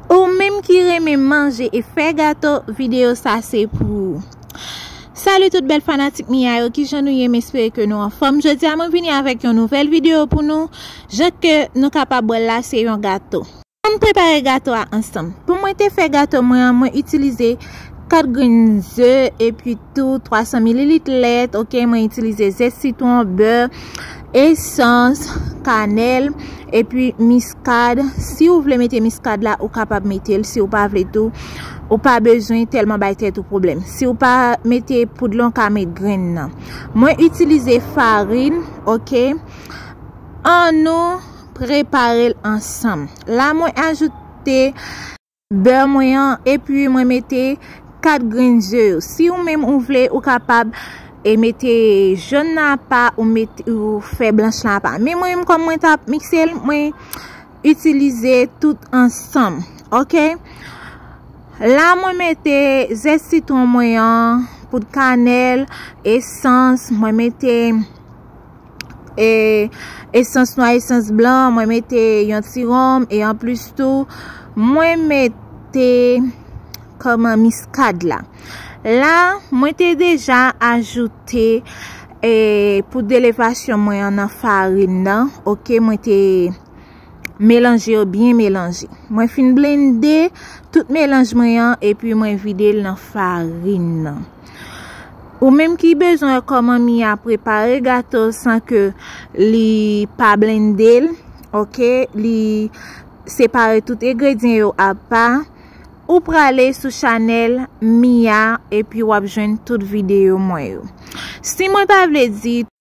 Ou menm ki renmen manje e fè gato video sa se pou ou Salut tout bèl fanatik Mia yo kijan nou ye m espere ke nou anfòm jodi a mwen vini avèk yon nouvèl video pou nou jan ke nou kapab wèl la se yon gato. Ann prepare gato a ansanm. Pou mwen te fè gato mwen an, mwen itilize 4 grenn ze epi tou 300 mililit lèt, ok, mwen itilize ze sitwon, bè, esans, kanèl, epi miskad, si ou vle mete miskad la ou kapab mete l, si ou pa vle tou, ou pa bezwen tèlman bay tèt ou pwoblèm. Si ou pa mete poud lan ou ka met grenn nan. Mwen itilize farin, ok, an nou. Prepare l ansanm. La mwen ajoute. Bè mwen an epi mwen mete 4 grenn ze yo. Si ou menm ou vle ou kapab e mete jòn nan apa ou mete ou fè blanch lan apa. Men mwen menm kòm mwen tap mikse l mwen itilize tout ansanm. Ok. La mwen mete ze sitwon mwen an, poud kanèl, esans, mwen mete. E esans nwa esans blan mwen mete yon ti rom e an plus tou mwen mete koman miskad la. La mwen te deja ajoute e pou delevasyon mwen an nan farin nan. Ok mwen te melanje yo byen melanje. Mwen fin blende tout melanje mwen an e pi mwen vide l nan farin nan. Ou menm ki bezwen wè kòman Mia prepare gato san ke li pa blende l, ok, li separe tout egredyen yo apa, ou prale sou chanèl Mia epi wap jwenn tout videyo mwen yo. Si mwen pa vle di.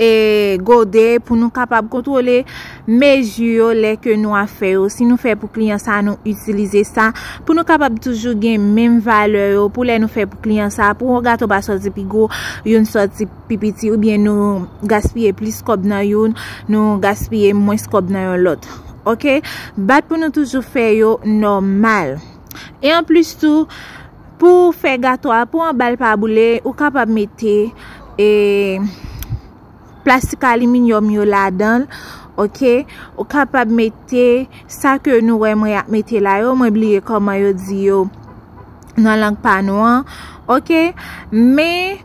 e gode pou nou kapab kontrole mezi yo lè ke nou a fè yo. Si nou fè pou kliyan sa nou itilize sa pou nou kapab toujou gen menm valè yo pou lè nou fè pou kliyan sa pou yon gato pa soti pi gwo yon soti pi piti ou byen nou gaspye plis kòb nan yon nou gaspye mwens kòb nan yon lòt. Ok. Bat pou nou toujou fè yo nòmal. E anplis tou. Pou fè gato a pou anbal pa boule ou kapab mete e plastik aliminyòm yo ladanl ok ou kapab mete sa ke nou wè mwen ap mete la yo mwen bliye koman yo di yo nan lang pa nou an ok men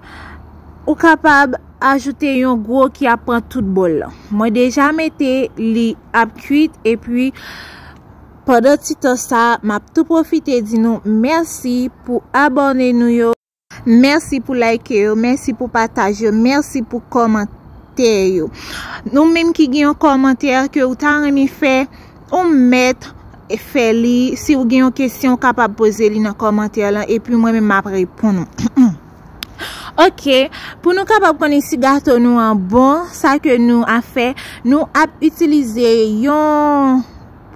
ou kapab ajoute yon gwo ki ap pran tout bòl mwen deja mete li ap kwit epi Pandan ti tan sa, map tou pwofite di nou mèsi pou abòne nou yo. Mèsi pou like yo, mèsi pou pataj yo, mèsi pou kòmantè yo. Nou menm ki gen yon kòmantè ke ou ta renmen fè, ou mèt fè li. Si ou gen yon kesyon ou kapab poze li nan kòmantè lan epi mwen menm map reponn ou. Ok, pou nou kapab konnen si gato nou an bon, sa ke nou ap fè, nou ap itilize yon.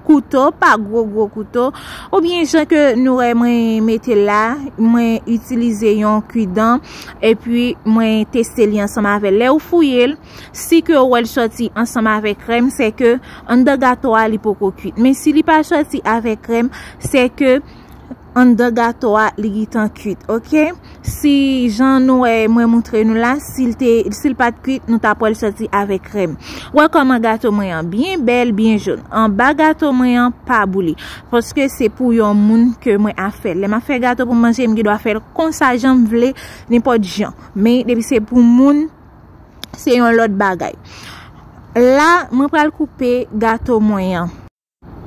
kouto pa gwo gwo kouto ou byen jan ke nou wè mwen mete la mwen itilize yon kudan epi mwen teste li ansanm avè lè ou fouye l si ke ou wè l soti ansanm avè krem se ke an dan gato a li poko kuit men si li pa soti avè krem se ke Anndan gato a li gitan kuit ok si jan nou wè mwen moutre nou la sil te sil pat kuit nou tap wèl soti avè krèm wè kòman gato mwen an byen bèl byen joun anba gato mwen an pa bouli paske se pou yon moun ke mwen ap fèl lèm ap fè gato pou manje m gen dwa fèl konsa janm vle nenpòt jan men depi se pou moun se yon lòt bagay la mwen pral koupe gato mwen an.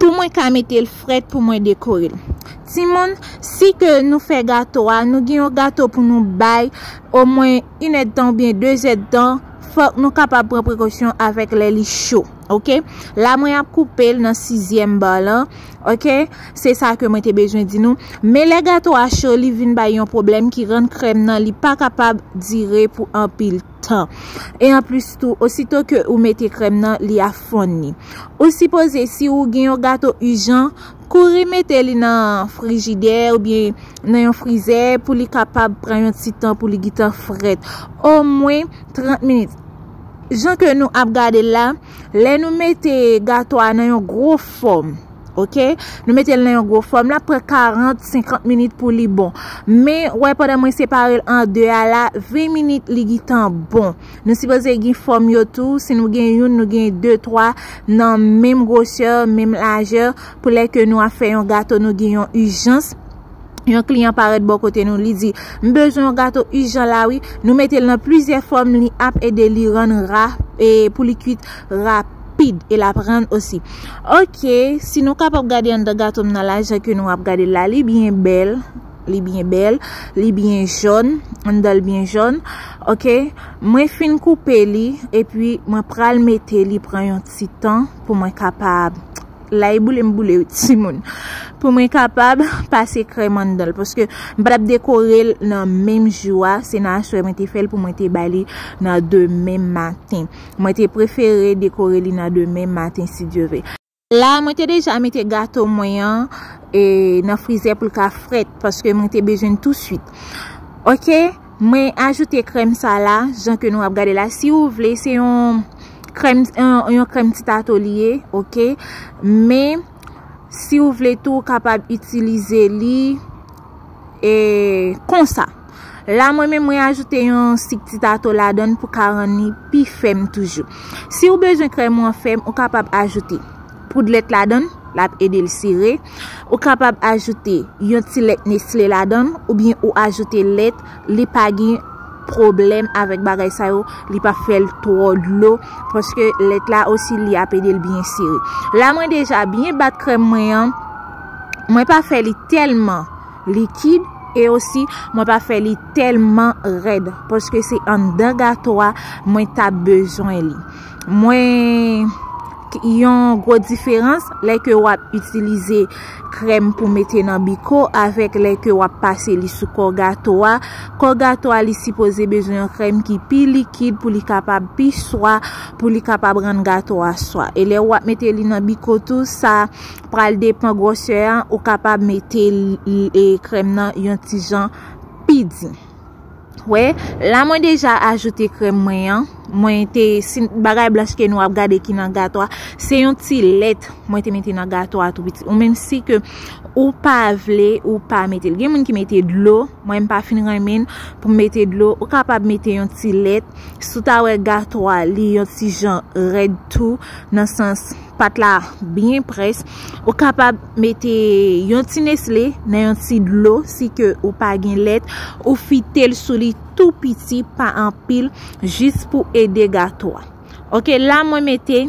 Pou mwen ka mete l frèt pou mwen dekore l. Timoun, si ke nou fè gato a, nou gen yon gato pou nou bay omwen inèdtan oubyen dezèdtan, fòk nou kapab pran prekosyon avèk lè li cho. Ok. La mwen ap koupe l nan sizyèm ba lan. Ok. Se sa ke mwen te bezwen di nou. Men lè gato a cho, li vin bay yon pwoblèm ki rann krèm nan li pa kapab dire pou anpil. tan. E anplis tou, osito ke ou mete krèm nan, li a fonn ni. Ou sipoze si ou gen yon gato ijan, kouri mete li nan frijidè ou byen nan yon frizè pou li kapab pran yon ti tan pou li gitan frèt. O mwen 30 minit. Jan ke nou ap gade la, lè nou mete gato a nan yon gro fòm. Ok, nou mete l nan yon gwo fòm la pran 40, 50 minit pou li bon. Men, wè pandan mwen separe l an 2 a la, 20 minit li gitan bon. Nou sipoze gen fòm yo tou, si nou gen youn, nou gen 2, 3 nan menm gwosè, menm lajè. Pou lè ke nou a fè yon gato nou gen yon ijans, yon kliyan parèt bò kote nou li di, m bezwen yon gato ijan la wi. Nou mete l nan plizyè fòm li ap ede li rann ra e pou li kuit rapid. rapid e lap rann osi. Ok, si nou kapab gade anndan gato m nan la jan ke nou ap gade l la, li byen bèl, li byen bèl, li byen jòn, anndan l byen jòn. Ok, mwen fin koupe li e pi mwen pral mete li pran yon ti tan pou mwen kapab, la e boule m boule wi ti moun, pou mwen kapab pase krèm anndan l. Paske m pa tap dekore l nan menm jou a, se nan aswè mwen te fè l pou mwen te bay li nan demen maten. Mwen te prefere dekore li nan demen maten si Dye ve. La a mwen te deja mete gato mwen an nan frizè pou l ka frèt paske mwen te bezwen l tou swit. Ok, mwen ajoute krèm sa la jan ke nou ap gade la. Si ou vle se yon krèm, yon krèm ti tato li ye. Ok, men si ou vle tou ou kapab itilize li e konsa. La mwen menm mwen ajoute yon sik ti tato ladan l pou ka rann li pi fèm toujou. Si ou bezwen krèm ou an fèm, ou kapab ajoute poud lèt ladan l, l ap ede l sere. Ou kapab ajoute yon ti lèt nesle ladan l, oubyen ou ajoute lèt, li pa gen pwoblèm avèk bagay sa yo, li pa fè l twò dlo, paske lèt la osi li ap ede l byen sere. La mwen deja byen bat krèm mwen an, mwen pa fè li tèlman. likid e osi mwen pa fè li tèlman rèd paske se anndan gato a mwen ta bezwen li mwen Yon gwo diferans lè ke w ap itilize krèm pou mete nan biko avèk lè ke w ap pase li sou kò gato a. Kò gato a li sipoze bezwen yon krèm ki pi likid pou li kapab pi swa, pou li kapab rann gato a swa. E lè w ap mete li nan biko tou sa Pral depan gwòsè a, ou kapab mete krèm nan yon ti jan pi di. Wè, la mwen deja ajoute krèm mwen an, mwen te, si bagay blanch ke nou ap gade ki nan gato a, se yon ti lèt mwen te mete nan gato a tou piti. Ou menm si ke ou pa vle, ou pa mete. Gen moun ki mete dlo, mwen m pa fin renmen pou m mete dlo, ou kapab mete yon ti lèt, sou ta wè gato a li yon ti jan rèd tou, nan sans. Pat la byen près. Ou kapab mete yon ti nesle nan yon ti dlo si ke ou pa gen lèt. Ou fite l sou li tou piti pa anpil jis pou ede gato a. Ok la mwen mete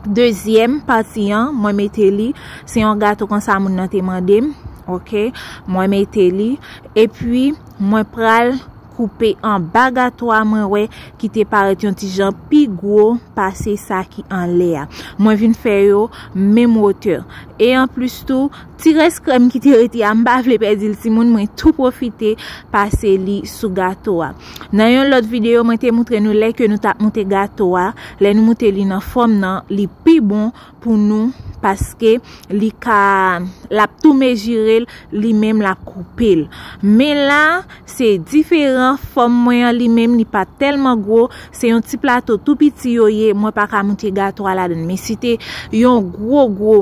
dezyèm pati an. Mwen mete li. Se yon gato konsa moun nan te mande m. Ok mwen mete li. E pi mwen pral. koupe anba gato a mwen wè ki te parèt yon ti jan pi gwo pase sa ki anlè a. Mwen vin fè yo menm wotè. E anplis tou, ti rès krèm ki te rete a m pa vle pèdi l timoun mwen tou pwofite pase li sou gato a. Nan yon lòt videyo mwen te moutre nou lè ke nou tap moute gato a, lè nou moute li nan fòm nan li pi bon pou nou paske li ka lap tou mejirel li menm lap koupel men la se diferan fòm mwen an li menm li pa tèlman gwo se yon ti plato tou piti yo ye mwen pa ka moute gato a ladan men si te yon gwo gwo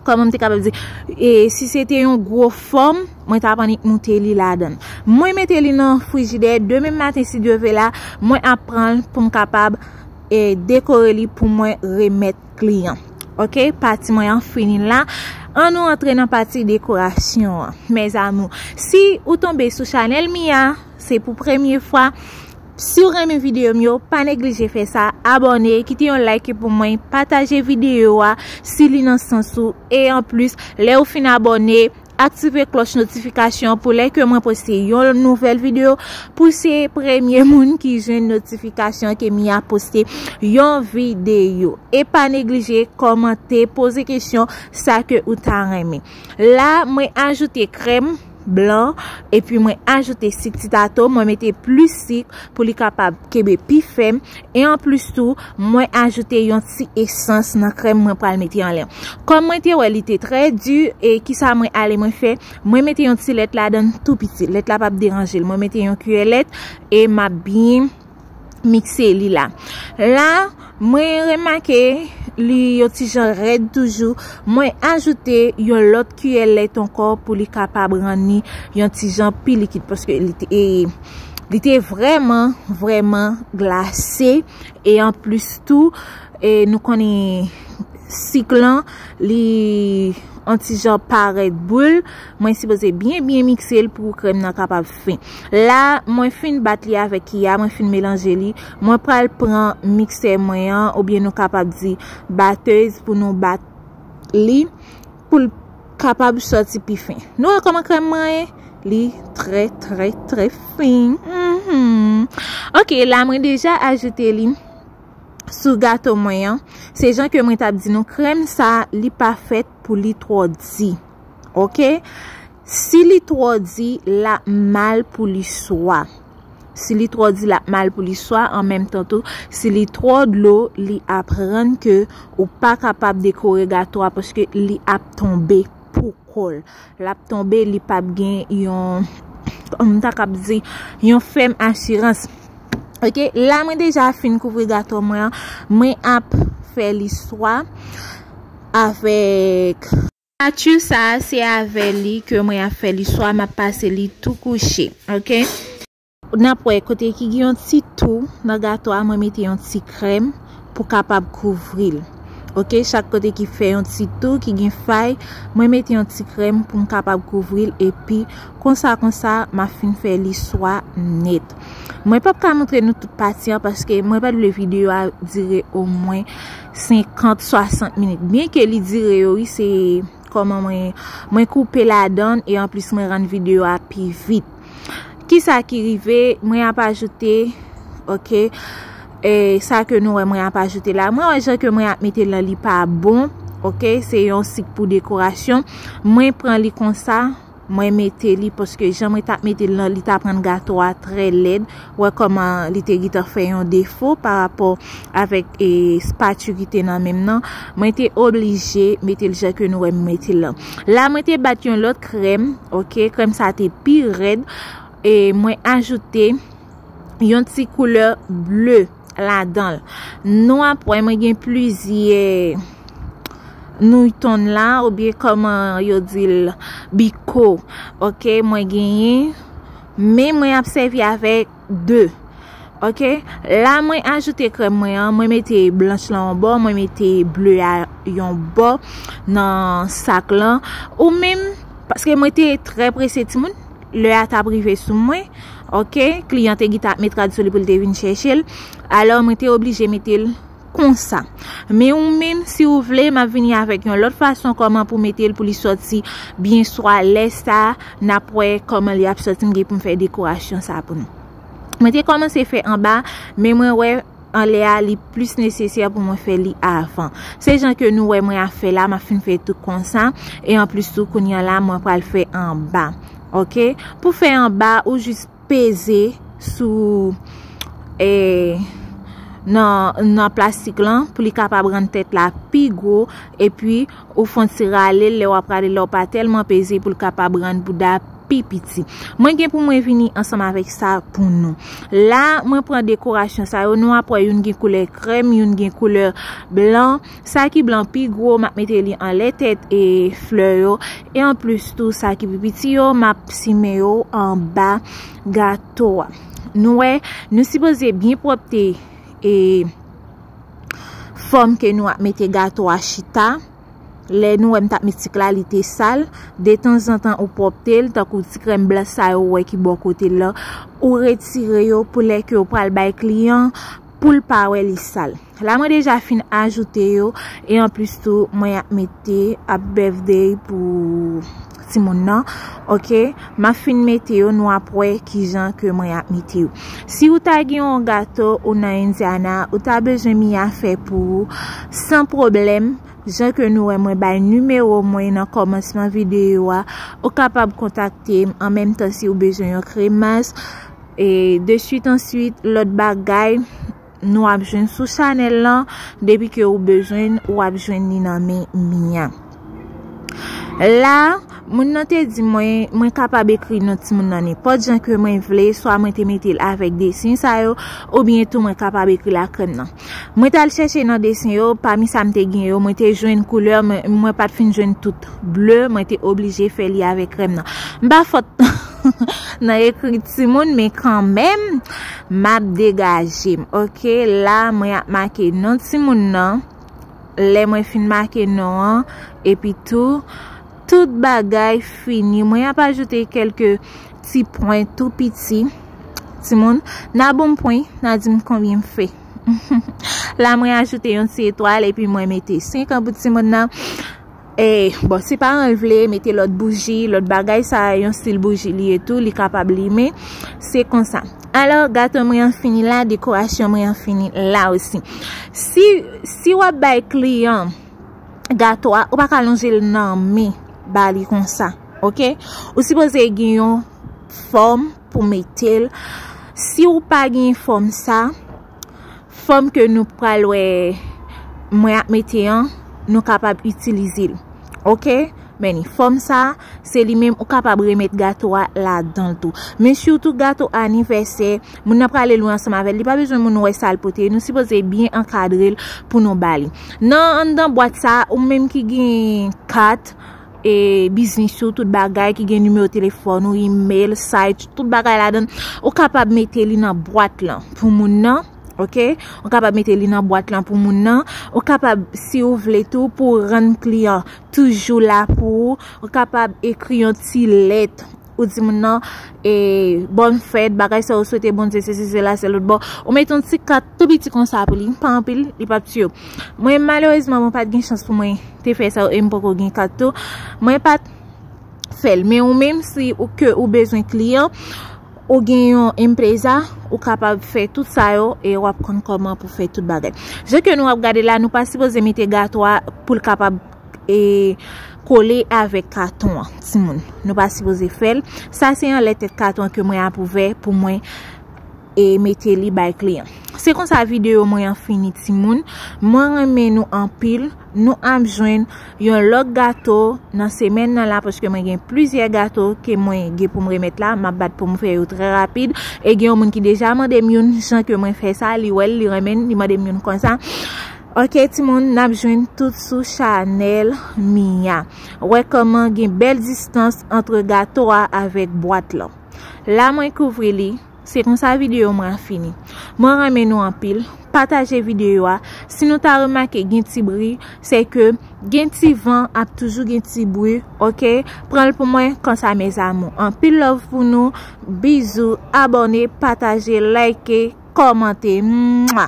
kòman m te kapab di e si se te yon gwo fòm mwen ta pannik moute li ladan mwen mete li nan frijidè demen maten si Dieu vela mwen ap pranl pou m kapab e dekore li pou mwen remèt kliyan. Ok, pati mwen an fini la. An nou antre nan pati dekorasyon an. Mezamou, si ou tonbe sou chanel mi a, se pou premye fwa. Si ou renmen videyo m yo, pa neglije fè sa. Abone, kite yon like pou mwen. Pataje videyo a, si li nan sans ou. E an plus, le ou fin abone, Aktive klòch notifikasyon an pou lè ke mwen poste yon nouvèl video pou se premye moun ki jwenn notifikasyon ke Mia poste yon video. E pa neglije kòmante, poze kesyon sa ke ou ta renmen. La mwen ajoute krèm blan epi mwen ajoute sik ti tato, mwen mete plis sik pou li kapab kebe pi fèm. E anplis tou, mwen ajoute yon ti esans nan krèm mwen pral mete anlè. Kòm mwen te wè li te trè di, e ki sa mwen ale mwen fè, mwen mete yon ti lèt la dan tout piti. Lèt la pap deranje l. Mwen mete yon kiyè lèt e m ap byen mikse li la. La, mwen remake li yon ti jan rèd toujou. Mwen ajoute yon lòt. Kiyè lè ton kò pou li kapab rann li yon ti jan pi likid paske li te vreman vreman glase e an plis tou e nou konnen sik lan li an ti jan parèt boul mwen si boze byen byen mikse l pou krèm nan kapab fen la mwen fin bat li avèk ki ya mwen fin melanje li mwen pral pran mikse mwen an ou byen nou kapab di batez pou nou bat li Pou l kapab sòti pi fen. Nou wè kòman krèm mwen ye? Li trè trè trè fen. Ok, la mwen deja ajoute li sou gato mwen an. Se jan ke mwen tap di nou krèm sa li pa fèt pou li twò di. Ok? Si li twò di, l ap mal pou li swa. Si li twò di, l ap mal pou li swa. An menm tan tou, si li twò dlo, li ap rann ke ou pa kapab dekore gato a paske li ap tonbe pou kò l. L ap tonbe, li p ap gen yon, kòman m ta kab di, yon fèm asirans. Ok, la mwen deja fin kouvri gato mwen an. Mwen ap fè li swa avèk. Statut sa se avè li ke mwen ap fè li swa map pase li tou kouche ok. Nap wè kote ki gen yon ti tou nan gato a mwen mete yon ti krèm pou kapab kouvril ok chak kote ki fè yon ti tou ki gen fay mwen mete yon ti krèm poum kapab kouvril epi konsa konsa ma fin fè li swa nèt mwen pap ka montre nou tout pati an paske mwen pat vle video a dire omwen 50, 60 minit. Byen ke li dire yo wi se koman mwen mwen koupe ladan e anplis mwen rann video a pi vit. Ki sa ki rive mwen ap ajoute ok e sa ke nou wè mwen ap ajoute la. Mwen wè jan ke mwen ap mete la li pa bon ok se yon sik pou dekorasyon mwen pran li konsa. Mwen mete li paske jan mwen tap mete l lan li tap rann gato a trè lèd. Wè kòman li te gitan fè yon defo pa rapò avèk e spatu ki te nan menm nan. Mwen te oblije mete l jan ke nou wè m mete l lan. La mwen te bat yon lòt krèm ok. Krèm sa te pi rèd. E mwen ajoute yon ti koulè bleu. ladan l. Nou ap wè mwen gen plizye nouton la ou byen koman yo di l biko. Ok mwen genyen men mwen ap sevi avèk 2. Ok la mwen ajoute krèm mwen an mwen mete blanch lan yon bò mwen mete ble a yon bò nan sak lan ou menm paske mwen te trè prese timoun. Lè a tap rive sou mwen, ok, kliyan te gita ap met rad sou li pou l te vin chèche l, alò mwen te oblije mete l konsa. Men ou menm, si ou vle, m ap vini avèk yon lòt fason kòman pou mete l pou li sòti byen swa lè sa, n ap wè kòman li ap sòti m gen pou m fè dekorasyon sa pou nou. Mwen te kòmanse fè anba, men mwen wè. anlè a li plis nesesè pou mwen fè li avan. Se jan ke nou wè mwen ap fè la, map fin fè tout konsa, e an plis tou kounye an la mwen pral fè anba. Ok, pou fè anba ou jis peze sou e nan plastik lan pou li kapab rann tèt la pi gwo, e pi Ou fon ti rale l lè w ap rale la w pa tèlman peze pou l kapab rann bouda pi piti. Mwen gen pou mwen vini ansanm avèk sa pou nou. La mwen pran dekorasyon sa yo nou ap wè youn gen koulè krèm youn gen koulè blan. Sa ki blan pi gwo m ap mete li anlè tèt e flè yo e an plis tou sa ki pi piti yo m ap simen yo anba gato a. Nou wè nou sipoze byen pwòpte e. fòm ke nou ap mete gato a chita, lè nou wè m tap met ti kla li te sal, detanzantan ou pwòpte l, tankou ti krèm blan sa yo ou wè ki bò kote l lan, ou retire yo pou lè ke ou pral bay kliyan, pou l pa wè li sal. La mwen deja fin ajoute yo, e anplis tou mwen ap mete ap bèfdey pou. Timoun nan ok map fin mete yo nou ap wè kijan ke mwen ap mete yo si ou ta gen yon gato ou nan indiana ou ta bezwen mia fè pou ou san pwoblèm jan ke nou wè mwen bay nimewo mwen nan kòmansman videyo a ou kapab kontakte m an menm tan si ou bezwen yon kremas e de swit an swit lòt bagay. Nou ap jwenn sou chanel lan. Depi ke ou bezwenn, ou ap jwenn ni nan men Mia. La, moun nan te di mwen, mwen kapab ekri non ti moun nan nenpòt jan ke mwen vle, swa mwen te mete l avèk desen sa yo, ou byen tou mwen kapab ekri l ak krèm nan. Mwen tal chèche nan desen yo, pami sa m te gen yo, mwen te jwenn koulè, mwen pat fin jwenn tout ble, mwen te oblije fè li avèk krèm nan. M pa fòt nan ekri ti moun, men kanmèm. Map degajem ok la mwen ap make non timoun nan lè mwen fin make non an epi tou tout bagay fini mwen ap ajoute kelke ti pwen tou piti timoun nan bonm pwen nan dim konbyen m fè la mwen ajoute yon ti etwal epi mwen mete 5 an pou timoun nan. Bon, si paran l vle mete lòt bouji, lòt bagay, sa a yon stil bouji li ye tou, li kapab limen. Se konsa. Alò, gato mwen an fini la, dekorasyon mwen an fini la osi. Si w ap bay kliyan gato a, ou pa ka lonje l nan men ba li konsa. Ok? Ou sipoze gen yon fòm pou mete l. Si w pa gen fòm sa, Fòm ke nou pral wè mwen ap mete an, nou kapab itilize l. Ok? Men li. Fòm sa, se li menm ou kapab remèt gato a ladan l tou. Men sitou gato anivèsè, moun nan prale lwen ansanm avè l, li pa bezwen moun wè sa l pote. Nou sipoze byen ankadre l pou nou ba li. Nan anndan bwat sa, ou menm ki gen kat. e biznis ou, tout bagay ki gen nimewo telefòn ou, email, site, tout bagay la dan, ou kapab mete li nan bwat lan pou moun nan, ok, ou kapab mete li nan bwat lan pou moun nan, ou kapab si ou vle tou pou rann kliyan toujou la pou ou, ou kapab ekri yon ti lèt, ou di moun nan, e, bon fèt, bagay sa ou swete bon di, se se se la se lout bon, ou mete yon ti kat. Tou piti konsa pou li, pa anpil, li pap tiye w. Mwen malerezman mwen pat gen chans pou mwen te fè sa yo e m poko gen kat tou. Mwen pat fè l. Men ou menm si ou ke ou bezwen kliyan, ou gen yon empreza, ou kapab fè tout sa yo e w ap konn kòman pou fè tout bagay. Je ke nou ap gade la, nou pa sipoze mete gato a pou l kapab e kole avèk katon an, ti moun. Nou pa sipoze fè l. Sa se anlè tèt katon an ke mwen ap ouvè pou mwen e mete li bay kliyan. Se konsa video mwen an fini timoun. Mwen renmen nou anpil. Nou ap jwenn yon lòk gato nan semen nan la paske mwen gen plizyè gato ke mwen gen pou m remet la. Map bat pou m fè yo trè rapid. E gen yon moun ki deja mande m yon jan ke mwen fè sa. Li wèl, li renmen, li mande m yon konsa. Ok timoun, nap jwenn tout sou chanel Mia. Wè koman gen bèl distans antre gato a avèk bwat lan. La mwen kouvri li. Se konsa video mwen an fini. Mwen renmen nou anpil. Pataje video a. Si nou ta remake gen ti bri, se ke gen ti van ap toujou gen ti bri. Ok? Pranl pou mwen konsa mes amour. Anpil love pou nou. Bizou. Abone, pataje, like, komante. Mwa!